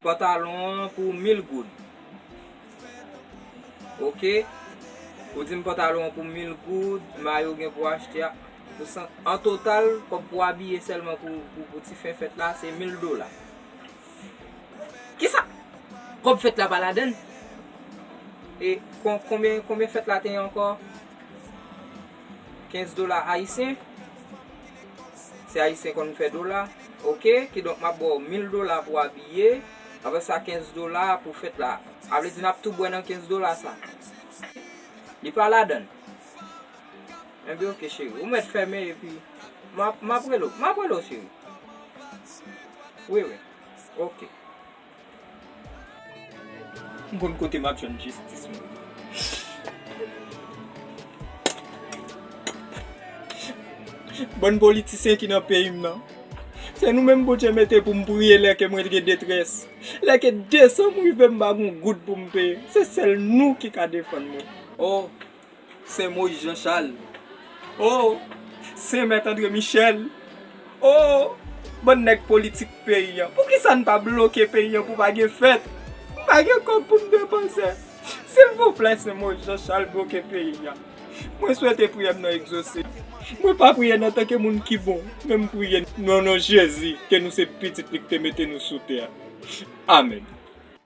Pantalon an pou 1000 goud Ok Ou di m pantalon an pou 1000 goud Mayo gen pou achte a pou 100 An total kòb pou abiye sèlman pou ti fen fèt la se 1000 dola Kisa kob fet la pa ladann. E konbyen konbyen fet la te ye anko 15 dola ayisyen se ayisyen konn fe dola ok kidonk map baw 1000 dola pou abiye apre sa 15 dola pou fet la avle di nap tou bwe nan 15 dola sa li pa ladann. Ebyen ok cheri, ou mèt fèmen epi map rele w, map rele w cheri. Wi wi, ok. M konn kote map jwenn jistis mwen. Bann politisyen ki nan peyi m nan. Se nou menm Bondye mete pou m priye lè ke mwen gen detrès. Lè ke desanm rive m pa gen yon goud pou m peye. Se sèl nou ki ka defann mwen. Oh, Sen Moyiz Jan Chal oo Sen Mèt Andre Michèl oo Bann nèg politik peyi an Poukisa n pa bloke peyi an pou pa gen fèt M pa gen kòb pou m depanse Silvouplè Sen Moyiz Jan Chal bloke peyi a Mwen swete priyè m nan egzose Mwen pa priye n antanke moun ki bon Men m priye n nan non Jezi Ke nou se pitit li ki te mete nou sou tè a Amèn.